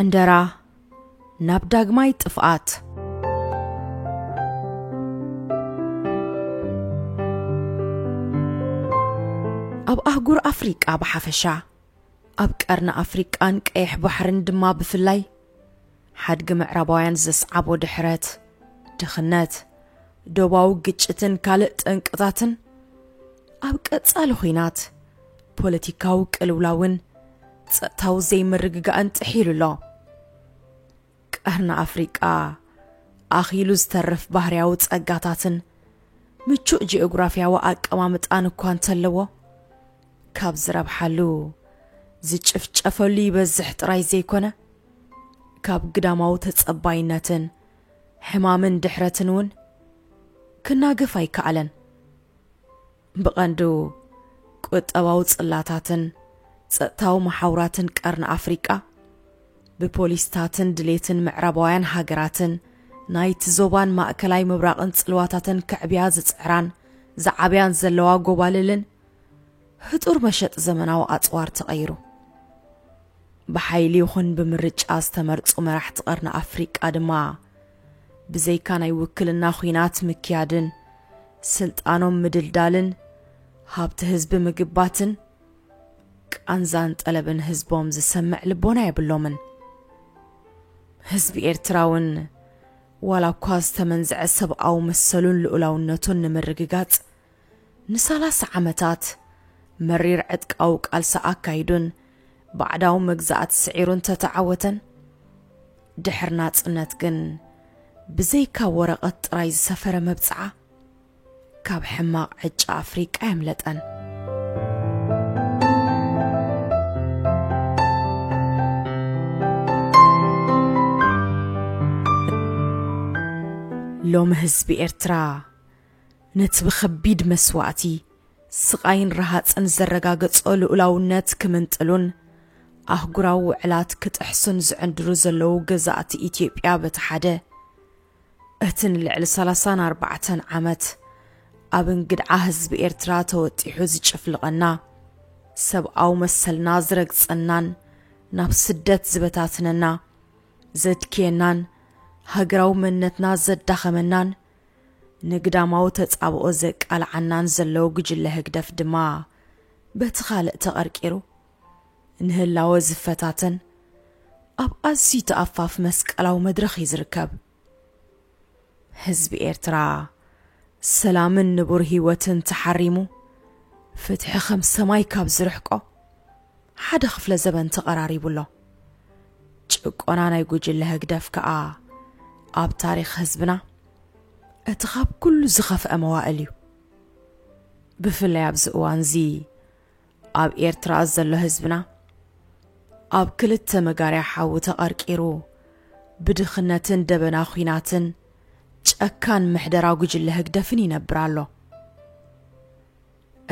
ዕንደራ ናብ ዳግማይ ጥፍኣት! ኣብ ኣህጉር ኣፍሪቃ ብሓፈሻ፣ ኣብ ቀርኒ ኣፍሪቃን ቀይሕ ባሕርን ድማ ብፍላይ፣ ሓድጊ ምዕራባውያን ዘስዓቦ ድሕረት፣ ድኽነት፣ ዶባዊ ግጭትን ካልእ ጠንቅታትን፣ ኣብ ቀጻሊ ኹናት፣ ፖለቲካዊ ቅልውላውን ጸጥታዊ ዘይምርግጋእን ጥሒሉ ኣሎ። ቀርኒ ኣፍሪቃ ኣኺሉ ዝተርፍ ባህርያዊ ጸጋታትን ምቹእ ጂኦግራፍያዊ ኣቀማምጣን እኳ እንተለዎ፣ ካብ ዝረብሓሉ ዝጭፍጨፈሉ ይበዝሕ ጥራይ ዘይኮነ፣ ካብ ግዳማዊ ተጸባይነትን ሕማምን ድሕረትን እውን ክናገፍ ኣይከኣለን። ብቐንዱ ቁጠባዊ ጽላታትን ጸጥታዊ መሓውራትን ቀርኒ ኣፍሪቃ፣ ብፖሊስታትን ድሌትን ምዕራባውያን ሃገራትን ናይቲ ዞባን ማእከላይ ምብራቕን ጽልዋታተን ከዕብያ ዝጽዕራን ዝዓብያን ዘለዋ ጎባልልን፣ ህጡር መሸጢ ዘመናዊ ኣጽዋር ተቐይሩ። ብሓይሊ ይኹን ብምርጫ ዝተመርጹ መራሕቲ ቀርኒ ኣፍሪቃ ድማ ብዘይካ ናይ ውክልና ኹናት ምክያድን ስልጣኖም ምድልዳልን ሃብቲ ህዝቢ ምግባትን ቃንዛን ጠለብን ህዝቦም ዝሰምዕ ልቦና የብሎምን። ህዝቢ ኤርትራ እውን ዋላ እኳ ዝተመንዝዐ ሰብኣዊ መሰሉን ልኡላውነቱን ንምርግጋጽ ንሳላሳ ዓመታት መሪር ዕጥቃዊ ቃልሲ ኣካይዱን ባዕዳዊ መግዛእቲ ስዒሩ እንተተዓወተን ድሕሪ ናጽነት ግን ብዘይካ ወረቐት ጥራይ ዝሰፈረ መብጽዓ ካብ ሕማቕ ዕጫ ኣፍሪቃ ኣየምለጠን። ሎሚ ህዝቢ ኤርትራ ነቲ ብኸቢድ መስዋእቲ ስቓይን ረሃጽን ዘረጋገጾ ልኡላውነት ክምንጥሉን ኣህጉራዊ ውዕላት ክጥሕሱን ዝዕንድሩ ዘለዉ ገዛእቲ ኢትዮጵያ በቲ ሓደ፣ እቲ ንልዕሊ ሰላሳን ኣርባዕተን ዓመት ኣብ እንግድዓ ህዝቢ ኤርትራ ተወጢሑ ዝጭፍልቐና፣ ሰብኣዊ መሰልና ዝረግጸናን ናብ ስደት ዝበታትነና፣ ዘድክየናን ሃገራዊ መንነትና ዘዳኸመናን፣ ንግዳማዊ ተጻብኦ ዘቃልዓናን ዘለዉ ጉጅለ ህግደፍ ድማ በቲ ካልእ ተቐርቂሩ ንህላወ ዝፈታተን ኣብ ኣዝዩ ተኣፋፍ መስቀላዊ መድረኽ እዩ ዝርከብ። ህዝቢ ኤርትራ ሰላምን ንቡር ህይወትን ተሓሪሙ ፍትሒ ከም ሰማይ ካብ ዝርሕቆ ሓደ ክፍለ ዘበን ተቐራሪቡ ኣሎ። ጭቆና ናይ ጉጅለ ህግደፍ ከኣ ኣብ ታሪኽ ህዝብና እቲ ኻብ ኩሉ ዝኸፍአ መዋእል እዩ ብፍላይ ኣብዚ እዋን እዚ ኣብ ኤርትራ ዘሎ ህዝብና ኣብ ክልተ መጋርያ ሓዊ ተቐርቂሩ ብድኽነትን ደበና ኲናትን ጨካን ምሕደራ ጉጅለ ህግደፍን ይነብር ኣሎ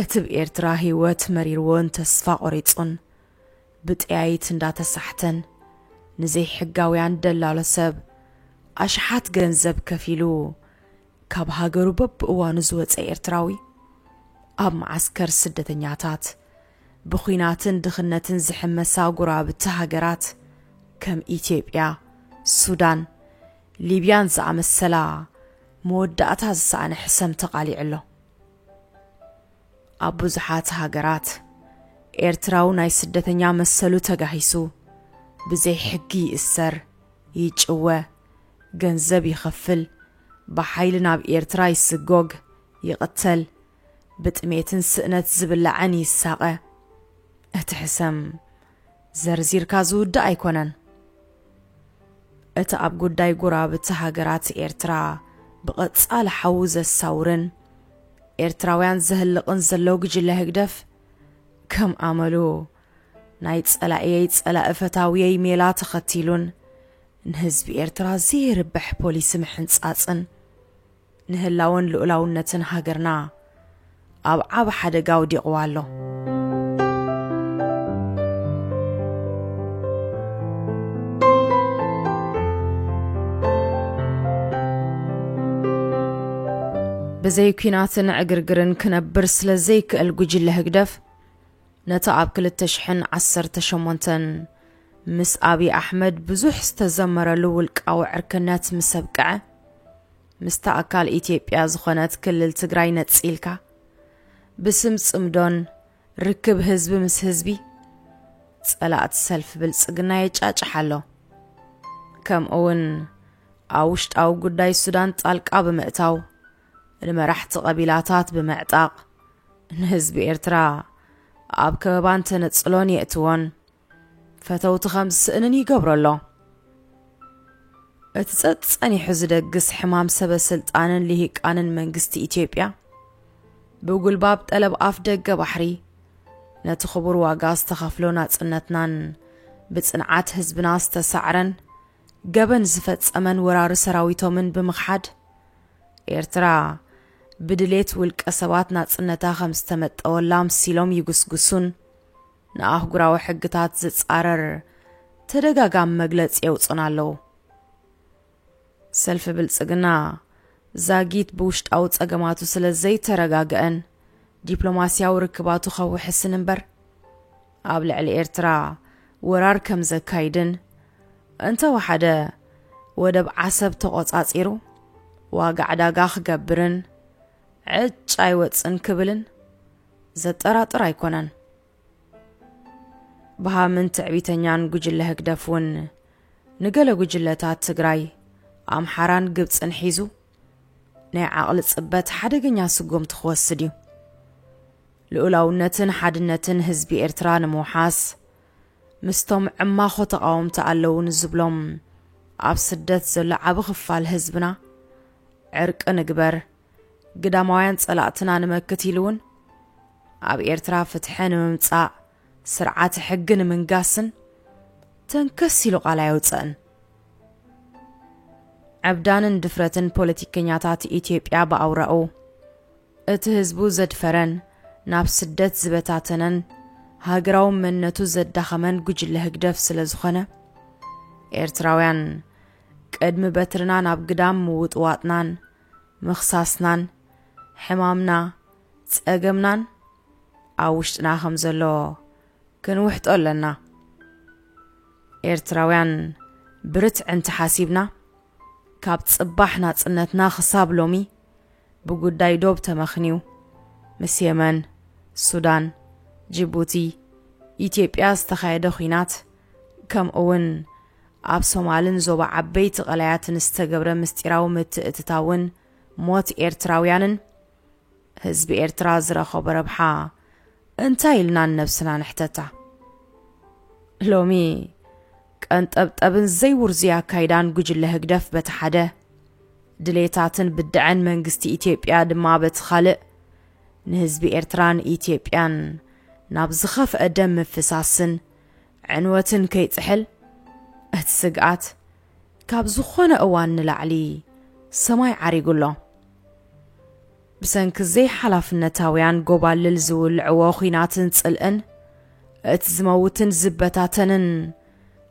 እቲ ብ ኤርትራ ህይወት መሪርዎን ተስፋ ቖሪጹን ብጠያይት እንዳተሳሕተን ንዘይሕጋውያን ደላሎ ሰብ ኣሽሓት ገንዘብ ከፊሉ ካብ ሃገሩ በብእዋኑ ዝወጸ ኤርትራዊ ኣብ መዓስከር ስደተኛታት ብኩናትን ድኽነትን ዝሕመሳ ጉራብቲ ሃገራት ከም ኢትዮጵያ፣ ሱዳን፣ ሊብያን ዝኣመሰላ መወዳእታ ዝሰኣነ ሕሰም ተቓሊዑ ኣሎ። ኣብ ብዙሓት ሃገራት ኤርትራዊ ናይ ስደተኛ መሰሉ ተጋሂሱ ብዘይ ሕጊ ይእሰር፣ ይጭወ፣ ገንዘብ ይኸፍል፣ ብሓይሊ ናብ ኤርትራ ይስጎግ፣ ይቕተል፣ ብጥሜትን ስእነት ዝብላዕን ይሳቐ። እቲ ሕሰም! ዘርዚርካ ዝውዳእ ኣይኮነን። እቲ ኣብ ጉዳይ ጎረባብቲ ሃገራት ኤርትራ ብቐጻሊ ሓዊ ዘሳውርን ኤርትራውያን ዘህልቕን ዘሎ ጉጅለ ህግደፍ፣ ከም ኣመሉ ናይ ጸላኢየይ ጸላኢ ፈታዊየይ ሜላ ተኸቲሉን ንህዝቢ ኤርትራ ዘየርብሕ ፖሊሲ ምሕንጻጽን ንህላወን ልኡላውነትን ሃገርና ኣብ ዓቢ ሓደጋ ኣውዲቕዋ ኣሎ። ብዘይ ኲናትን ዕግርግርን ክነብር ስለ ዘይክእል ጉጅለ ህግደፍ ነቲ ኣብ 2018 ምስ ኣብዪ ኣሕመድ ብዙሕ ዝተዘመረሉ ውልቃዊ ዕርክነት ምስ ኣብቅዐ ምስታ ኣካል ኢትዮጵያ ዝኾነት ክልል ትግራይ ነጺልካ ብስም ጽምዶን ርክብ ህዝቢ ምስ ህዝቢ ጸላእቲ ሰልፊ ብልጽግና የጫጭሕ ኣሎ። ከምኡውን ኣብ ውሽጣዊ ጉዳይ ሱዳን ጣልቃ ብምእታው ንመራሕቲ ቀቢላታት ብምዕጣቕ ንህዝቢ ኤርትራ ኣብ ከበባን ተነጽሎን የእትዎን ፈተውቱ ከም ዝስእንን ይገብሮ ኣሎ። እቲ ጸጸኒሑ ዝደግስ ሕማም ሰበ ስልጣንን ልሂቃንን መንግስቲ ኢትዮጵያ ብጉልባብ ጠለብ ኣፍ ደገ ባሕሪ ነቲ ክቡር ዋጋ ዝተኸፍሎ ናጽነትናን ብጽንዓት ህዝብና ዝተሳዕረን ገበን ዝፈጸመን ወራሪ ሰራዊቶምን ብምኽሓድ ኤርትራ ብድሌት ውልቀ ሰባት ናጽነታ ከም ዝተመጠወላ ምሲሎም ይጉስጉሱን ንኣህጉራዊ ሕግታት ዝጻረር ተደጋጋሚ መግለጺ የውጹና ኣለዉ። ሰልፊ ብልጽግና ዛጊት ብውሽጣዊ ጸገማቱ ስለ ዘይተረጋግዐን ዲፕሎማስያዊ ርክባቱ ከውሕስን እምበር ኣብ ልዕሊ ኤርትራ ወራር ከም ዘካይድን እንተወሓደ ወደብ ዓሰብ ተቖጻጺሩ ዋጋ ዕዳጋ ክገብርን ዕጭ ኣይወጽን ክብልን ዘጠራጥር ኣይኮነን። ብሃምን ትዕቢተኛን ጉጅለ ህግደፍ እውን ንገለ ጉጅለታት ትግራይ፣ ኣምሓራን ግብፅን ሒዙ ናይ ዓቕሊ ፅበት ሓደገኛ ስጉምቲ ክወስድ እዩ። ልኡላውነትን ሓድነትን ህዝቢ ኤርትራ ንምውሓስ ምስቶም ዕማኾ ተቓወምቲ ኣለዉ ንዝብሎም ኣብ ስደት ዘሎ ዓቢ ክፋል ህዝብና ዕርቂ ንግበር፣ ግዳማውያን ጸላእትና ንመክት ኢሉ እውን ኣብ ኤርትራ ፍትሐ ንምምጻእ ስርዓተ ሕጊ ንምንጋስን ተንከስ ኢሉ ቃል ኣየውፀእን ዕብዳንን ድፍረትን ፖለቲከኛታት ኢትዮጵያ ብኣውራኡ እቲ ህዝቡ ዘድፈረን ናብ ስደት ዝበታተነን ሃገራዊ መንነቱ ዘዳኸመን ጉጅለ ህግደፍ ስለ ዝኾነ ኤርትራውያን ቅድሚ በትርና ናብ ግዳም ምውጥዋጥናን ምኽሳስናን ሕማምና ጸገምናን ኣብ ውሽጥና ከም ዘሎ ክንውሕጦ ኣለና ኤርትራውያን ብርትዕ እንተሓሲብና ካብ ጽባሕ ናጽነትና ክሳብ ሎሚ ብጉዳይ ዶብ ተመኽንዩ ምስ የመን ሱዳን ጅቡቲ ኢትዮጵያ ዝተኻየደ ኹናት ከምኡውን ኣብ ሶማልን ዞባ ዓበይቲ ቀላያትን ዝተገብረ ምስጢራዊ ምትእትታውን ሞት ኤርትራውያንን፣ ህዝቢ ኤርትራ ዝረኸቦ ረብሓ እንታይ ኢልና ንነብስና ንሕተታ? ሎሚ ቀንጠብጠብን ዘይውርዙይ ኣካይዳን ጉጅለ ህግደፍ በቲ ሓደ፣ ድሌታትን ብደዐን መንግስቲ ኢትዮጵያ ድማ በቲ ካልእ፣ ንህዝቢ ኤርትራን ኢትዮጵያን ናብ ዝኸፍአ ደም ምፍሳስን ዕንወትን ከይጽሕል እቲ ስግኣት ካብ ዝኾነ እዋን ንላዕሊ ሰማይ ዓሪጉ ኣሎ። ብሰንኪ ዘይሓላፍነታውያን ጎባልል ዝውልዕዎ ኹናትን ጽልእን እቲ ዝመውትን ዝበታተንን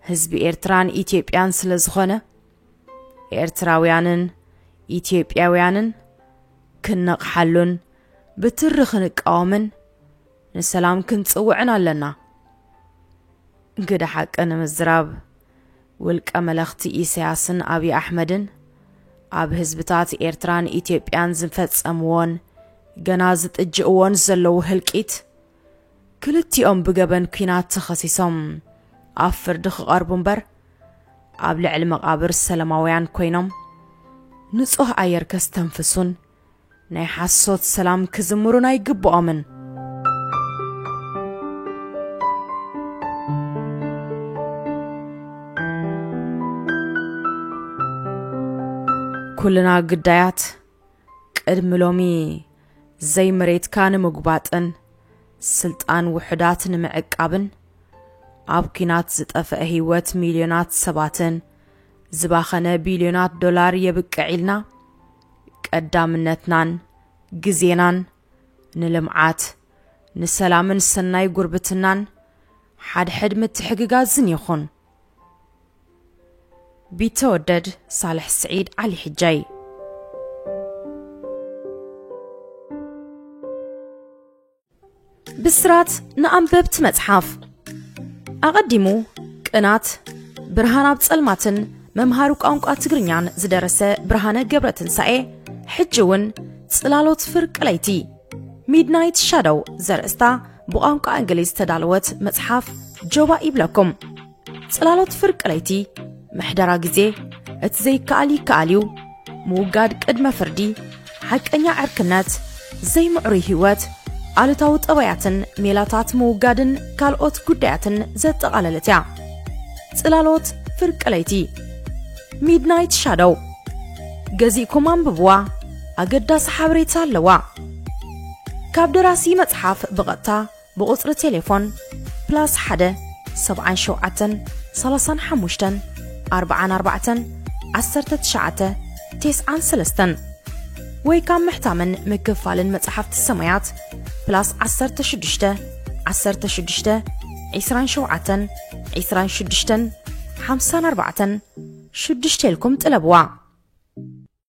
ህዝቢ ኤርትራን ኢትዮጵያን ስለ ዝኾነ ኤርትራውያንን ኢትዮጵያውያንን ክንነቕሓሉን ብትሪ ክንቃወምን ንሰላም ክንጽውዕን ኣለና። ግደ ሓቂ ንምዝራብ ውልቀ መለኽቲ ኢሰያስን ኣብይ ኣሕመድን ኣብ ህዝብታት ኤርትራን ኢትዮጵያን ዝፈጸምዎን ገና ዝጥጅእዎን ዘለዉ ህልቂት ክልቲኦም ብገበን ኲናት ተኸሲሶም ኣብ ፍርዲ ክቐርቡ እምበር ኣብ ልዕሊ መቓብር ሰላማውያን ኮይኖም ንጹህ ኣየር ከስተንፍሱን ናይ ሓሶት ሰላም ክዝምሩን ኣይግብኦምን። ኩልና ግዳያት ቅድሚ ሎሚ ዘይመሬትካ ንምጉባጥን ስልጣን ውሑዳት ንምዕቃብን ኣብ ኲናት ዝጠፍአ ህይወት ሚልዮናት ሰባትን ዝባኸነ ቢልዮናት ዶላር የብቅዕ ኢልና ቀዳምነትናን ግዜናን ንልምዓት፣ ንሰላምን ሰናይ ጉርብትናን ሓድሕድ ምትሕግጋዝን ይኹን። ቢተወደድ ሳልሕ ስዒድ ዓሊ ሕጃይ ብስራት ንኣንበብቲ መጽሓፍ ኣቐዲሙ ቅናት ብርሃን ኣብ ጸልማትን መምሃሪ ቋንቋ ትግርኛን ዝደረሰ ብርሃነ ገብረ ትንሳኤ ሕጂ እውን ጽላሎት ፍርቂ ለይቲ ሚድናይት ሻዶው ዘርእስታ ብቋንቋ እንግሊዝ ዝተዳለወት መጽሓፍ ጆባ ይብለኩም ጽላሎት ፍርቂ ለይቲ ምሕደራ ግዜ እቲ ዘይከኣል ይከኣል እዩ ምውጋድ ቅድመ ፍርዲ ሓቀኛ ዕርክነት ዘይምዕሩይ ህይወት ኣሉታዊ ጠባያትን ሜላታት ምውጋድን ካልኦት ጉዳያትን ዘጠቓለለት እያ ጽላሎት ፍርቂ ለይቲ ሚድናይት ሻዶው ገዚእኩም ኣንብብዋ ኣገዳሲ ሓበሬታ ኣለዋ ካብ ደራሲ መጽሓፍ ብቐጥታ ብቁጽሪ ቴሌፎን ፕላስ ሓደ ሰብዓን ሸውዓተን ሰላሳን ሓሙሽተን ኣርብዓን ኣርባዕተን ዓሰርተ ትሽዓተ ቴስዓን ሰለስተን ወይ ካብ ምሕታምን ምክፋልን መጽሓፍቲ ሰማያት ፕላስ ዓሰርተ ሽዱሽተ ዓሰርተ ሽዱሽተ ዒስራን ሸውዓተን ዒስራን ሽዱሽተን ሓምሳን ኣርባዕተን ሽዱሽተ ኢልኩም ጥለብዋ።